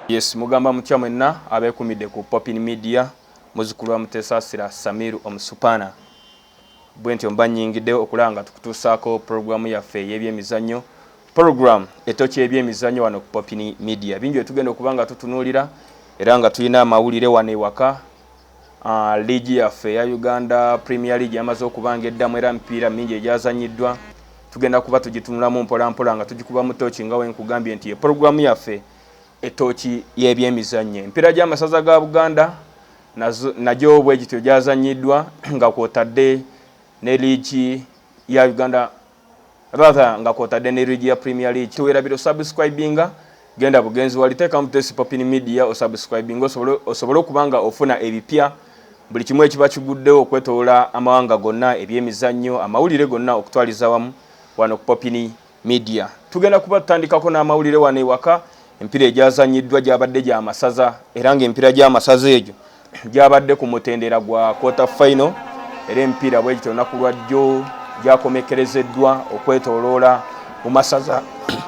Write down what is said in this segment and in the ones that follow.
Yes, mugamba mutya mwenna abekumidde ku Popin Media muzukulu wa Mutesasira Samiru Omusupana. Bwentyo mba nyingidde okulaba nga tukutuusaako programu yaffe ey'ebyemizannyo program etokya ebyemizannyo wano ku Popin Media. Bingi bye tugenda okuba nga tutunuulira era nga tulina amawulire wano ewaka Liigi yaffe eya Uganda Premier League yamaze okuba ng'eddamu era emipiira mingi egyazannyiddwa tugenda kuba tugitunulamu mpolampola nga tugikubamu ttooci nga bwe nkugambye nti ye pulogulaamu yaffe ettooci y'ebyemizannyo. Emipiira gy'amasaza ga Buganda nagyo bwe gityo gyazannyiddwa nga kw'otadde ne liigi ya Uganda rather nga kwotadde ne league ya premier league tewerabira osubscribinga genda bugenzi wali teekamu tesi popin media osubscribinga osobole okuba nga ofuna ebipya buli kimu ekiba kiguddewo okwetolola amawanga gonna ebyemizannyo amawulire gonna okutwaliza wamu wano ku popin media tugenda kuba tutandikako n'amawulire wano ewaka empira egyazannyiddwa gyabadde gyamasaza era nga empira gy'amasaza egyo gyabadde ku mutendera gwa quarter final era emipiira bwe gityo olunaku lwa jjo gyakomekkerezeddwa okwetoloola mu masaza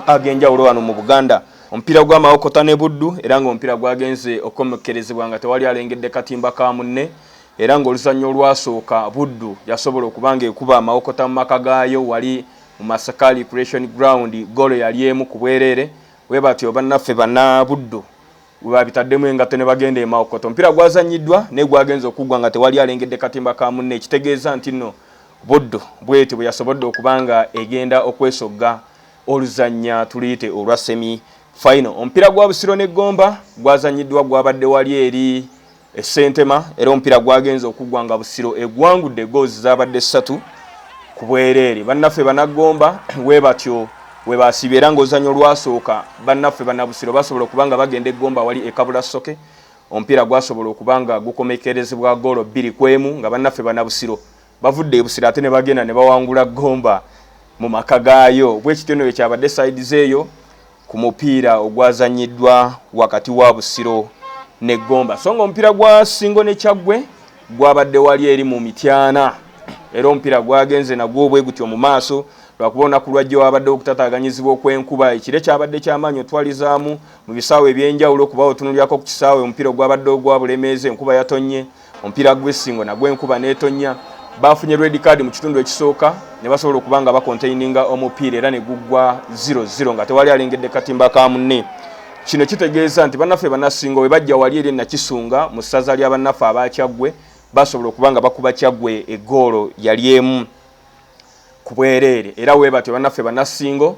ag'enjawulo wano mu buganda omupiira gw'amawokota ne buddu era ng'omupiira gwagenze okukomekkerezebwa nga tewali alengedde katimba ka munne era ng'oluzannya olwasooka buddu yasobola okuba ng'ekuba amawokota mu maka gaayo wali mu masakaali creation ground golo yali emu ku bwereere bwe batyo bannaffe banna buddu gwe baabitaddemu engatto ne bagenda e Mawokota. Omupiira gwazannyiddwa naye gwagenze okuggwa nga tewali alengedde katimba ka munne ekitegeeza nti nno Buddu bw'etyo bwe yasobodde okuba nga egenda okwesogga oluzannya tuluyite olwa semi fayino. Omupiira gwa Busiro ne Gomba gwazannyiddwa gwabadde wali eri e Ssentema era omupiira gwagenze okuggwa nga Busiro egwangudde goozi zaabadde ssatu ku bwereere. Bannaffe Banaggomba we batyo we baasiibye era ng'ozannya olwasooka bannaffe Bannabusiro basobola okuba nga bagenda eggomba awali ekabula soke omupiira gwasobola okuba nga gukomekerezebwa goolo bbiri ku emu nga bannaffe Bannabusiro bavudde ebusiro ate ne bagenda ne bawangula gomba mu maka gaayo bwekityo no bwe kyabadde side zeeyo ku mupiira ogwazannyiddwa wakati wa Busiro ne Gomba so ng'omupiira gwa Ssingo ne Kyaggwe gwabadde wali eri mu Mityana era omupiira gwagenze nagwo obwe gutyo mu maaso lwakuba olunaku lwajja wabaddewo okutataaganyizibwa okw'enkuba ekire kyabadde ky'amaanyi otwalizaamu mu bisaawe eby'enjawulo kuba otunulyako ku kisaawe omupiira ogwabadde ogwa Bulemeezi enkuba yatonnye Omupiira gw'essingo nagwo enkuba n'etonnya baafunye red card mu kitundu ekisooka ne basobola okuba nga bakontaininga omupiira era ne guggwa 00 nga tewali alengedde katimba ka munne kino kitegeeza nti bannaffe banassinga we bajja wali eri nakisunga mu ssaza lya bannaffe abakyaggwe basobola okuba nga bakuba kyaggwe eggoolo yali emu ku bwereere era weebatyo bannaffe banassingo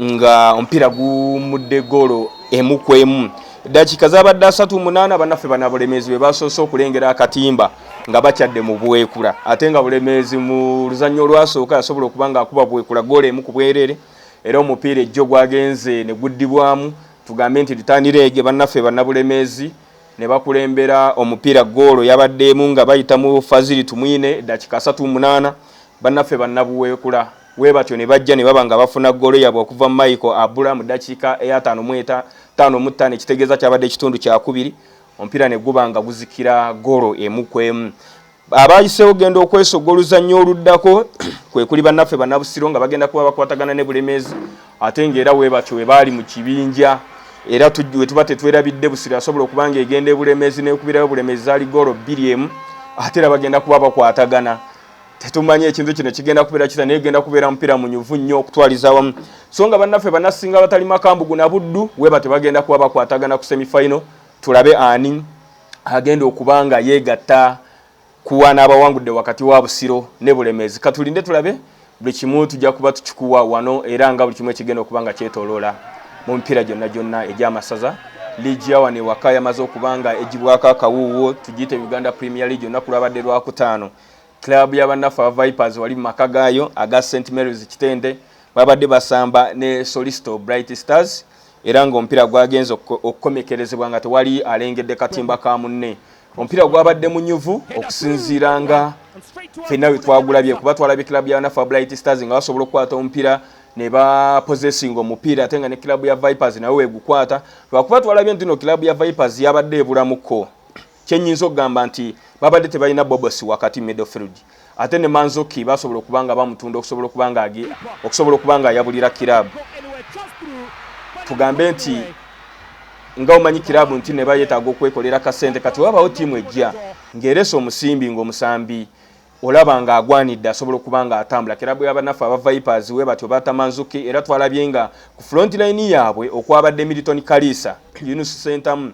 nga omupiira gumudde goolo emu ku emu dakiika zabadde asatu munaana banaffe bana bulemeezi be basoose okulengera akatimba nga bakyadde mu bwekula ate nga bulemeezi mu luzannya olwasooka yasobola okuba nga akuba bwekula goola emu ku bwereere era omupiira ejjo gwagenze ne guddibwamu tugambe nti litaanireege bannaffe banabulemeezi ne bakulembera omupiira goolo yabaddeemu nga bayita mu faziri tumwine dakiika asatu munaana bannaffe banabuweekula Webatyo ne bajja ne baba nga bafuna ggoolo yabwe okuva Michael Abula mu dakiika eyataano mu eta taano mu ttaano ekitegeeza kyabadde ekitundu kyakubiri omupiira ne guba nga guzikira ggoolo emu ku emu. Abaayiseewo genda okwesogga oluzannya oluddako kwe kuli bannaffe Bannabusiro nga bagenda kuba bakwatagana ne Bulemeezi ate ng'era webatyo we baali mu kibinja era tujjuwe tuba tetwerabidde busiro asobola okuba nga egenda ebulemezi nekubirayo bulemezi zali golo bbiri emu ate era bagenda kuba bakwatagana tetumanyi ekintu kino kigenda kubeera kita naye genda kubeera mupiira munyuvu nnyo okutwaliza awamu so nga bannaffe banasinga batali makambugu na buddu weba tebagenda kuba bakwatagana ku semifinal tulabe ani agenda okuba nga yeegatta kuwa n'abawangudde wakati wa busiro ne bulemeezi katulinde tulabe buli kimu tujja kuba tukikuwa wano era nga buli kimu ekigenda okuba nga kyetoloola mu mipiira gyonna gyonna egy'amasaza liigi ya wano ewaka yamaze okuba nga egibwako akawuuwo tugiyite uganda premier league olunaku lwabadde lwakutaano Club ya bannaffe aba Vipers wali mu maka gaayo aga St Mary's Kitende babadde basamba ne Solisto Bright Stars era ng'omupiira gwagenze okukomekerezebwa nga tewali alengedde katimba ka munne omupiira gwabadde munyuvu okusinziira nga fenna we twagulabye kuba twalabye club ya bannaffe Bright Stars nga basobola okukwata omupiira ne bapozesinga omupiira ate nga ne club ya Vipers nawe wegukwata lwakuba twalabye nti no club ya Vipers yabadde ebulamuko kyenyinza okugamba nti babadde tebalina bobos wakati middlefield ate ne manzoki basobola okuba nga bamutunda okusobola okuba nga agi okusobola okuba nga ayabulira kirabu tugambe nti nga omanyi kirabu nti ne bayetaaga okwekolera kasente kati wabawo tiimu ejja ng'eresa omusimbi ng'omusambi olaba nga agwanidde asobola okuba nga atambula kirabu yabanaffe aba vipers we batyo batamanzuki era twalabye nga ku front line yaabwe okwabadde milton kaliisa yunus sentamu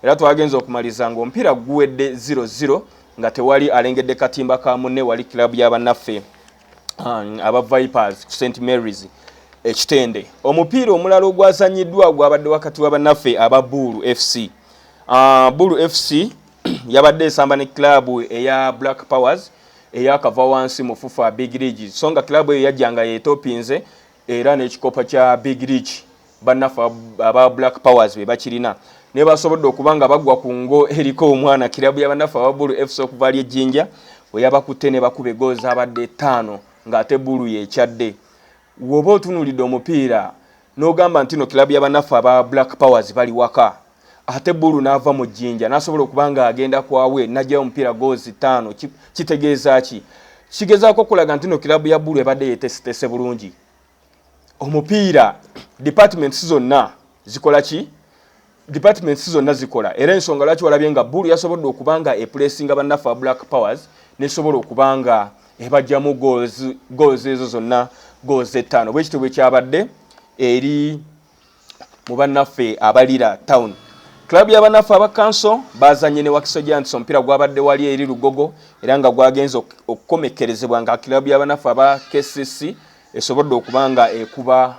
era twagenze okumaliza ng'omupiira guwedde 00 nga tewali alengedde katimba ka munne wali kilabu ya bannaffe um, aba vipers ku st marys ekitende omupiira omulala ogwazanyiddwa gwabadde wakati wa bannaffe aba buulu fc uh, buulu fc yabadde esamba ne kilabu eya black powers eyakava wansi mu fufa big league so nga kilabu eyo yajja nga yetopinze era n'ekikopo kya big rich bannaffe aba black powers be bakirina naye basobodde okuba nga bagwa ku ngo eriko omwana kirabu ya bannaffe aba bulu fc okuva ali ejjinja we yabakutte ne bakuba egoolo zaabadde ttaano ng'ate bulu yekyadde woba otunuulidde omupiira n'ogamba nti no kirabu ya bannaffe aba black powers bali waka ate bulu naava mu jjinja nasobola okuba nga agenda kwawe najayo omupiira goozi ttaano kitegeeza ki kigezaako okulaga nti no kilabu ya bulu ebadde yetesitese bulungi omupiira departments zonna zikola ki departments zonna zikola era ensonga lwaki walabye nga bulu yasobodde okuba nga epulesinga bannaffe black powers nesobola okuba nga ebajjamu goozi ezo zonna goozi ettaano bwekityo bwekyabadde eri mu bannaffe abalira town Club ya banaffe aba kanso bazanye ne Wakiso Giants omupiira gwabadde wali eri Lugogo era nga gwagenze okukomekkerezebwa nga club ya banaffe aba KCC esobodde okuba nga ekuba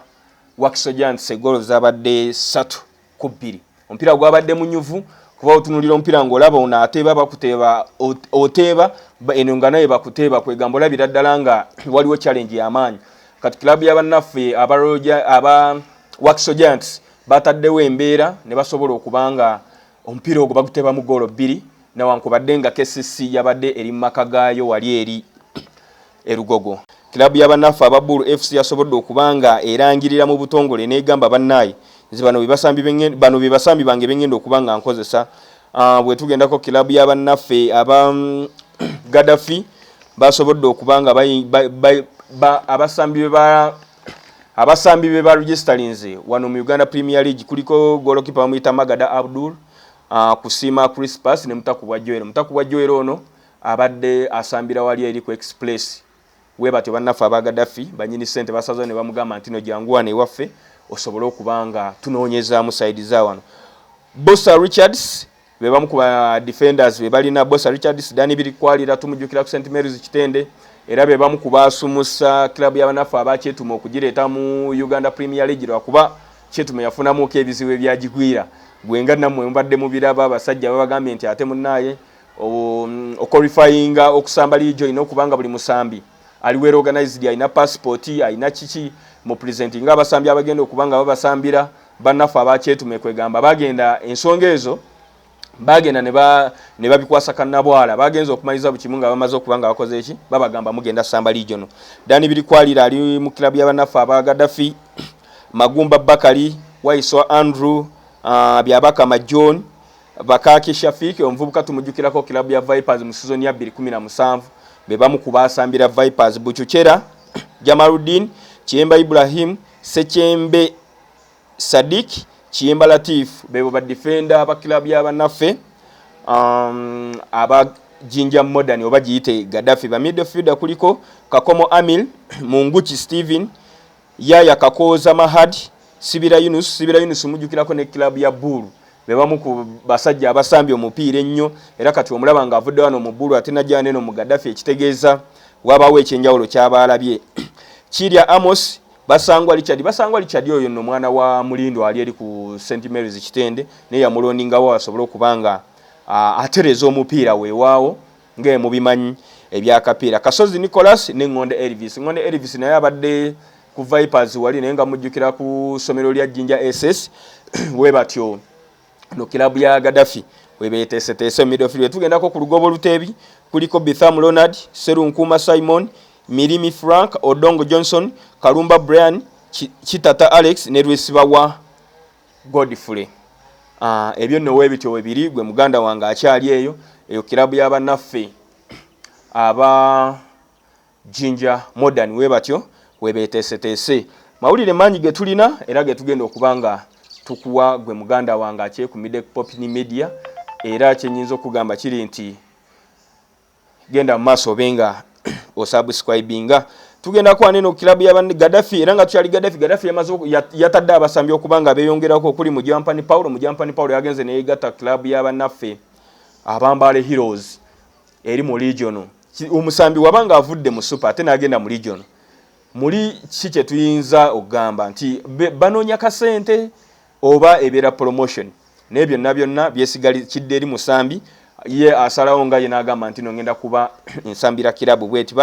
Wakiso Giants egoolo zabadde ssatu ku bbiri. Omupiira gwabadde munyuvu kuba otunulira omupiira ng'olaba ono ateeba bakuteeba oteeba eno nga naye bakuteeba kwegamba olabira ddala nga waliwo challenge y'amaanyi kati club ya bannaffe aba Waxo Giants bataddewo embeera ne basobola okuba nga omupiira ogwo baguteeba mu goolo bbiri newankubadde nga KCC yabadde eri mu maka gaayo wali eri E Lugogo, club ya bannaffe aba Buru FC yasobodde okuba nga erangirira mu butongole n'egamba bannaye nze bano be basambi benge, bano be basambi bange bengenda okuba nga nkozesa. Uh, bwetugendako club ya bannaffe aba mm, Gaddafi basobodde okuba nga abasambi be ba abasambi be ba registalinze wano mu Uganda Premier League kuliko golokipa bamuyita Magada Abdul uh, Kusima Crispus ne Mutakubwa Joel. Mutakubwa Joel ono Abadde asambira wali eri ku Express webatyo bannaffe aba Gaddafi banyini ssente basazeewo ne bamugamba nti no jangu wano ewaffe osobole okuba nga tunoonyezaamu sayidi za wano. Bosa Richards be bamu ku ba defenders be balina Bosa Richards, Dani Birikwalira tumujjukira ku St Mary's Kitende era be bamu ku baasumusa club ya bannaffe aba Kyetume okugireeta mu Uganda Premier League lwakuba Kyetume yafunamuuko ebizibu ebyagigwira gwe nga nammwe mubadde mubiraba abasajja babagambye nti ate munnaaye okorifayinga okusamba liigi olina okuba nga buli musambi ali wera organized alina pasipooti alina kiki mu pulezenti nga abasambi abagenda okuba nga babasambira bannaffe abakyetume kwegamba bagenda ensonga ezo bagenda ne babikwasa kannabwala bagenza okumaliza buli kimu nga bamaze okuba nga bakoze eki babagamba mugenda samba liigyo no dani biri kwalira ali mu kilabu ya bannaffe aba gadafi magumba bakali waiswa andrew uh, byabakama john Bakaki Shafiq omuvubuka tumujjukirako kilabu ya Vipers mu sizoni ya 2017 be bamu ku baasambira Vipers Buchuchera Jamaluddin Kiyemba Ibrahim Sekyembe Sadik Kiyemba Latif bebo ba defender ba kilabu ya banaffe um, aba Jinja Modern oba giyite Gaddafi ba midfielder kuliko Kakomo Amil Munguchi Steven Yaya Kakooza Mahad, Sibira Yunus, Sibira Yunus mujjukirako ne club ya Bull be bamu ku basajja abasambye omupiira ennyo era kati omulaba nga avudde wano mu Bull ate najja neno mu Gaddafi ekitegeeza wabaawo ekyenjawulo kyaba alabye Kirya Amos basangwa Richard basangwa Richard oyo no mwana wa Mulindo ali eri ku St Mary's Kitende ne yamulondingawo asobole okubanga atereza omupiira wewaawo Nga mubimanyi ebya Kapiira, Kasozi Nicholas ne Ngonde Elvis. Ngonde Elvis naye abadde ku Vipers wali naye nga mujjukira ku ssomero lya Jinja SS we batyo no kilabu ya Gaddafi we beeteeseteese mu midfield. We tugendako ku lugobo luteebi kuliko Bitham Ronald, Serunkuuma Simon, Mirimi Frank, Odongo Johnson, Kalumba Brian, Kitata Alex ne Lwesibawa Godfrey ah, ebyo nno webityo webiri gwe muganda wange akyali eyo eyo kirabu yabanaffe aba jinja modern webatyo webeteeseteese mawulire mangi getulina era getugenda okuba nga tukuwa gwe muganda wange akyekumide popni media era kyenyinza okugamba kiri nti genda mumaaso obe nga osubscribinga tugenda kwana eno kilabu ya gadafi era nga tukyali gadafi gadafi yamaze yatadde abasambi okuba nga beyongerako okuli mujampani paulo mujampani paulo yagenze neyegatta kilabu ya banaffe abambaale heroes eri mu legion omusambi waba nga avudde mu super ate nagenda mu legion muli ki kyetuyinza okugamba nti banoonya kasente oba ebeera promotion naye byonna byonna byesigali kidde eri musambi ye asalawo nga yena agamba nti nongenda kuba nsambira kirabu bweti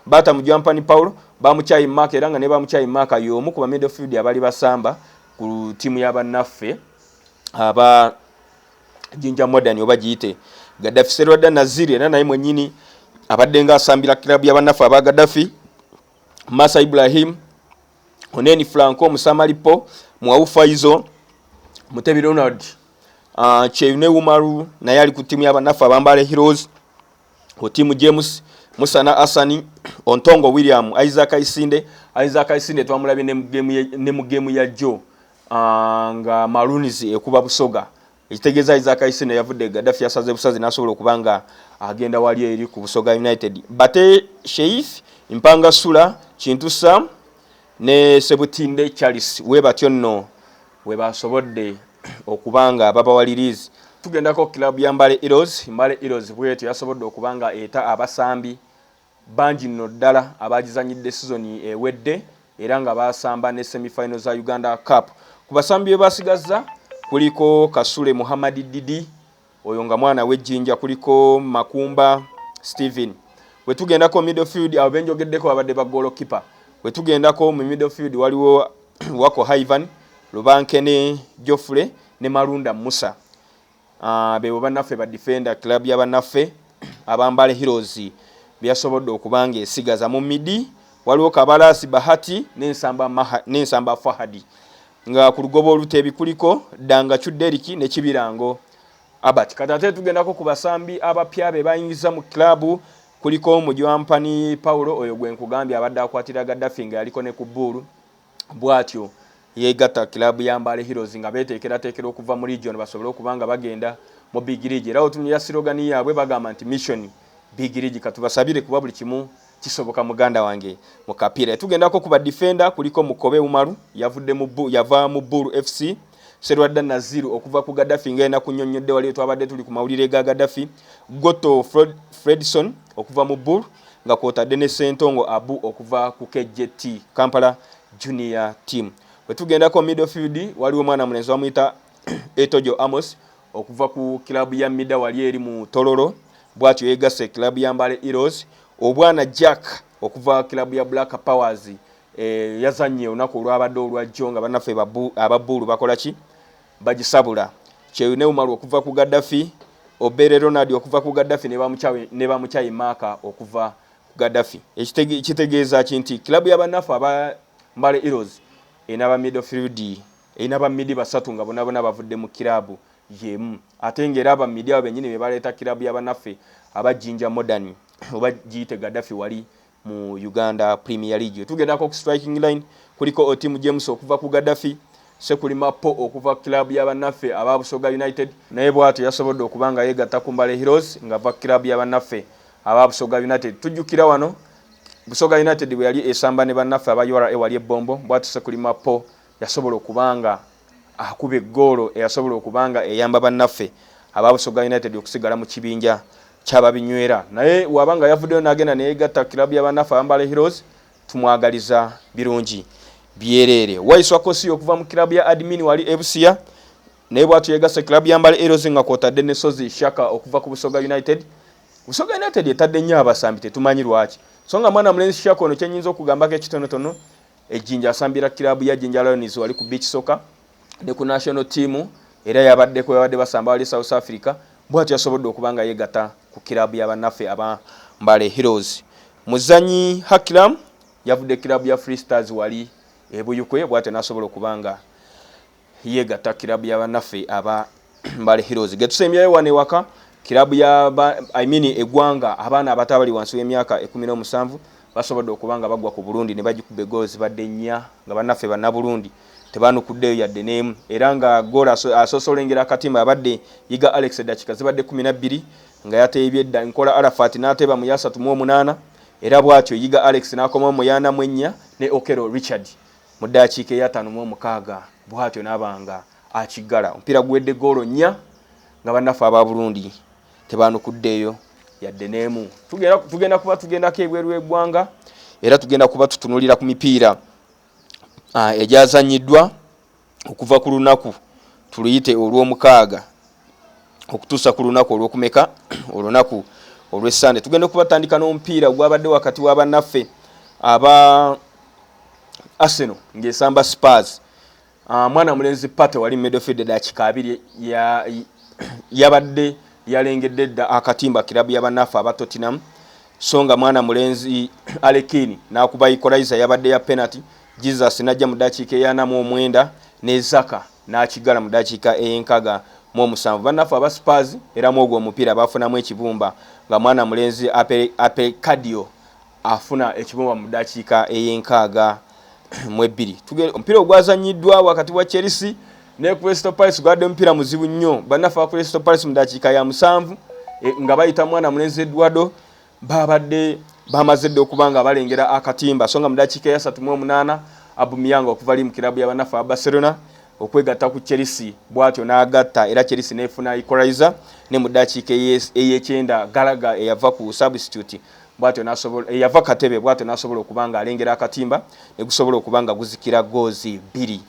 bata mujampani paul bamukyayi maka era nga ne bamukyayi maka yomu kuba midfield abali basamba ku timu yabanaffe aba jinja modern oba giyite gadafi serwada naziri era naye mwenyini abadde nga asambira kirabu yabanaffe aba gadafi masa ibrahim oneni franco musamalipo mwawu faizo mutebi ronald uh, ah, cheyune umaru naye ali ku timu yabanafu abambale heroes ku timu james musana asani ontongo william isaac isinde isaac isinde twamulabye ne mu gemu ya jo uh, ah, nga marunis ekuba busoga ekitegeeza Isaac Isino yavudde Gaddafi yasaze busazi n'asobola okuba nga agenda wali eri ku Busoga United. Bate Sheif, Mpanga Sula, Kintu Sam ne Sebutinde Charles we batyo nno we basobodde okuba nga babawalirizi. Tugendako club ya Mbale Heroes, Mbale Heroes bwetyo yasobodde okuba nga eta abasambi Bangi nno ddala abaagizannyidde sizoni ewedde era nga baasamba ne semi final za Uganda Cup. Ku basambi be basigazza kuliko Kasule Muhammad Didi, oyo nga mwana w'e Jinja, kuliko Makumba Steven. Bwe tugendako middle field, abo be njogeddeko babadde ba ggoolokippa. Bwe tugendako mu middle field waliwo Wako Haivan, Lubankene Geoffrey ne Malunda Musa. Ah, bebo banaffe ba defender club ya banaffe abambale heroes byasobodde okuba nga esigaza mu midi waliwo kabalasi bahati nensamba maha nensamba fahadi nga ku lugoba olutebi kuliko danga chuderiki ne kibirango abat kati ate tugendako ku basambi abapya be bayingiza mu club kuliko omujwampani paulo oyo gwe nkugambye abadde akwatira gaddafi nga yaliko ne ku buulu bwatyo yeegatta ku kiraabu ya Mbale Heroes nga beeteekerateekera okuva mu Legion basobole okuba nga bagenda mu Big League era otunulira sirogani yaabwe bagamba nti Mission Big League katubasabire kuba buli kimu kisoboka muganda wange mu kapiira. Tugendako ku badifenda kuliko Mukobe Umaru yavudde mu yava mu Bulu FC. serwadda naziru okuva ku gadafi nga enaku nyonnyodde waliyo twabadde tuli ku mawulire ga gadafi goto Fred, fredson okuva mu bur nga kwotadde ne sentongo abu okuva ku kjt kampala junior team bwetugendako middlefield waliwo omwana mulenzi bamuyita etojo amos okuva ku kilabu ya mida wali eri mu tololo bwatyo yegase kilabu ya mbale eros obwana jack okuva kilabu ya black powers Eh, yazannye olunaku olwabadde olwajjo nga bannaffe ababuulu bakola ki bagisabula kyeyo ne umaru okuva ku gaddafi obere ronald okuva ku gaddafi ne bamukyayi maaka okuva ku gaddafi ekitegeeza ki nti kilabu ya bannaffe aba mbale eros erina ba middlefield erina ba midi basatu nga bonabona bavudde mu kilabu yemu ate ngaera aba midi abo benyini bebaleeta kilabu ya bannaffe aba jinja modern oba giyite gaddafi wali mu Uganda Premier League. Wetugendako ku striking line kuliko Otim James okuva ku Gaddafi, Sekulima Po okuva ku club ya bannaffe aba Busoga United. Naye bwatyo yasobodde okuba nga yegatta ku Mbale Heroes ngava ku club ya bannaffe aba Busoga United. Tujjukira wano Busoga United bweyali esamba ne bannaffe aba ura wali e Bombo bwatyo Sekulima Po Yasobola okuba nga akuba eggoolo eyasobola okuba nga eyamba bannaffe aba Busoga United okusigala mu kibinja ky'ababinywera naye waba nga yavuddeyo n'agenda neyegatta kiraabu ya bannaffe Abambale Heroes tumwagaliza birungi byereere. Waiswa Kosi okuva mu kiraabu ya Admin wali e Busia naye bwatyo yegasse kiraabu ya Mbale Heroes nga kwotadde ne Sozi Shaka okuva ku Busoga United. Busoga United etadde nnyo abasambi tetumanyi lwaki so nga mwana mulenzi Shaka ono kyenyinza okugambako ekitonotono E Jinja asambira kiraabu ya Jinja Lions wali ku beach soccer ne ku national team era yabaddeko yabadde basamba wali South Africa bwatyo yasobodde okuba nga yeegatta ku kiraabu ya bannaffe aba Mbale Heroes. Muzanyi Hakilam yavudde kiraabu ya Free Stars wali e Buyukwe bwatyo n'asobola okuba nga yegatta kirabu ya banaffe aba mbale heroes getusembyayo wano ewaka kirabu ya I mean egwanga abaana abato abali wansi w'emyaka ekumi n'omusanvu basobodde okuba nga bagwa ku burundi ne bagikuba egoolo zibadde nnya nga banaffe bannaburundi tebanukuddeyo yadde n'emu era nga goola asoose olengera akatimba abadde yiga alex edakika zibadde kumi na bbiri nga yateebye dda nkola arafat n'ateeba mu yasatu mu omunaana era bw'atyo yiga alex n'akomawo mu yaana mu ennya ne okero richard Mu ddaakiika eyataano mu omukaaga bwatyo n'aba nga akiggala. Omupiira guwedde ggoolo nnya nga bannaffe aba Burundi tebaanukuddeeyo yadde n'emu. Tugenda kuba tugendako ebweru w'eggwanga era tugenda kuba tutunuulira ku mipiira ah, egyazannyiddwa okuva ku lunaku tuluyite olw'omukaaga okutuusa ku lunaku olwokumeka olunaku olwesande tugenda okubatandika n'omupiira gwabadde wakati wa bannaffe aba arsenal ngaesamba spars ah, mwana mulenzi pate wali medofield edakika abiri yabadde yalengedde dda akatimba kirabu ya bannaffe aba tottenham so nga mwana mulenzi alekini nakuba ikolaiza yabadde ya penalty jesus najja mu dakiika eyanamu omwenda nezaka n'akiggala mu ddakiika ey'enkaaga mu omusanvu. Bannaffe aba Spurs era mu ogwo omupiira baafunamu ekibumba nga mwana mulenzi Ape Cadio afuna ekibumba mu ddakiika ey'enkaaga mu ebbiri. Omupiira ogwazannyiddwa wakati wa Chelsea ne Crystal Palace gwabadde omupiira muzibu nnyo. Bannaffe aba Crystal Palace mu ddakiika ya musanvu eh, nga bayita mwana mulenzi Eduardo Baabadde bamaze dda okuba nga balengera akatimba so nga mu dakiika eyasatu mu omunaana Abumyanga okuva li mu kirabu ya bannaffe aba Barcelona okwegatta ku Chelsea bw'atyo n'agatta era Chelsea n'efuna Ikoraiza ne mu dakiika ey'ekyenda Galaga eyava ku substitute bwatyo nasobola eyava eh, katebe bwatyo nasobola okuba nga alengera akatimba ne gusobola okuba nga guzikira goozi bbiri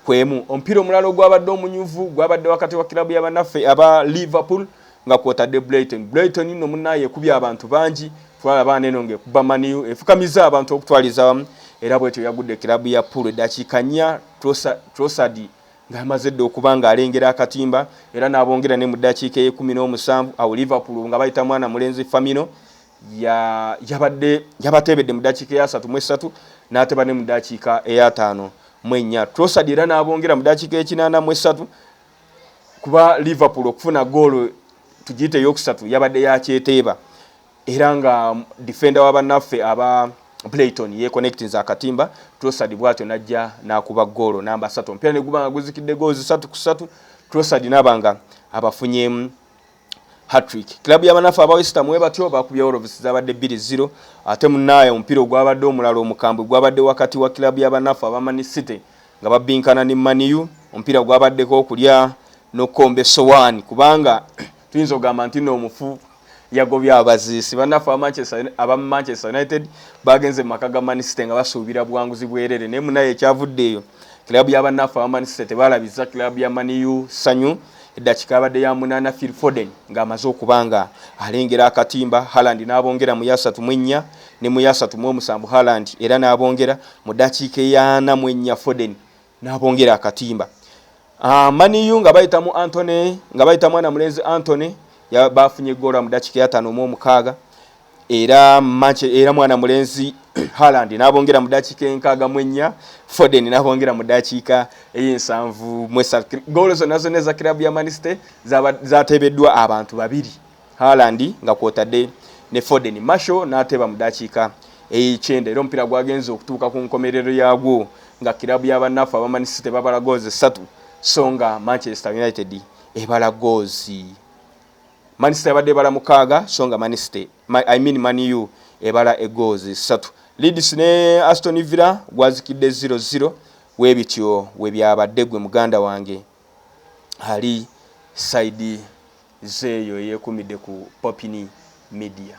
kwemu omupiira omulala ogwabadde omunyuvu gwabadde wakati wa kilabu y'abanaffe aba liverpool nga kwotadde Brighton. Brighton nno munnaye ekubye abantu bangi twala baana eno ng'ekubba maniyu efukamizza abantu okutwaliza awamu era bwetyo yagudde kiraabu ya Pool eddakiika nnya Trossard nga amaze dda okuba ng'alengera akatimba era n'abongera ne mu ddakiika ey'ekkumi n'omusanvu awo Liverpool nga bayita mwana mulenzi Famino yabadde yabateebedde mu ddakiika eyasatu mu essatu n'ateba ne mu ddakiika eyataano mu ennya Trossard era n'abongera mu ddakiika ekinaana mu essatu kuba liverpool okufuna goolo tugiyite eyokusatu yabadde yakyeteeba era nga defenda wa bannaffe aba playton yeconnectinze akatimba trosad bwatyo najja nakuba goolo namba satu omupiira neguba nga guzikidde goozi satu ku satu trosad naba nga abafunyemu hatrick club yabanafu aba westam webatyo bakubya orovisi zabadde bbiri ziro ate munaaya omupiira ogwabadde omulala omukambwe gwabadde wakati wa club yabanafu aba mani city nga babbinkana ne maniu omupiira gwabaddeko okulya nokukomba esowaani kubanga tuyinza okugamba nti noomufu yagobye abaziisi banafu aba manchester united bagenze mu maka ga mani city nga basuubira buwanguzi bwerere naye munaye ekyavudde eyo club yabanafu aba mani city tebalabiza club ya maniu sanyu eddakika abadde ya munaana phil foden ng'amaze okuba nga alengera akatimba haland n'abongera mu yasatu mwennya ne mu yasatu mu omusanvu haland era n'abongera mu ddakiika eyaana mu ennya foden n'abongera akatimba ah, maniyu nga bayita mu antony nga bayita mwana mulenzi antony baafunye egoola mu ddakiika eyataano mu omukaaga era mace era mwana mulenzi Haaland n'abongera mu ddakiika enkaaga mu ennya Foden n'abongera mu ddakiika ey'ensanvu mu essatu ggoolo zonna zonna eza kiraabu ya Man City zaateebeddwa abantu babiri Haaland nga kwotadde ne Foden Marshall n'ateeba mu ddakiika ey'ekyenda era omupiira gwagenze okutuuka ku nkomerero yaagwo nga kiraabu ya bannaffe aba Man City babala goozi essatu so nga Manchester United ebala goozi Manchester yabadde ebala mukaaga so nga Manchester, I mean Man U ebala egoozi ssatu. Leeds ne Aston Villa gwazikidde 0-0 we bityo we byabadde gwe muganda wange ali sayidi zeeyo eyeekumidde ku Popini Media.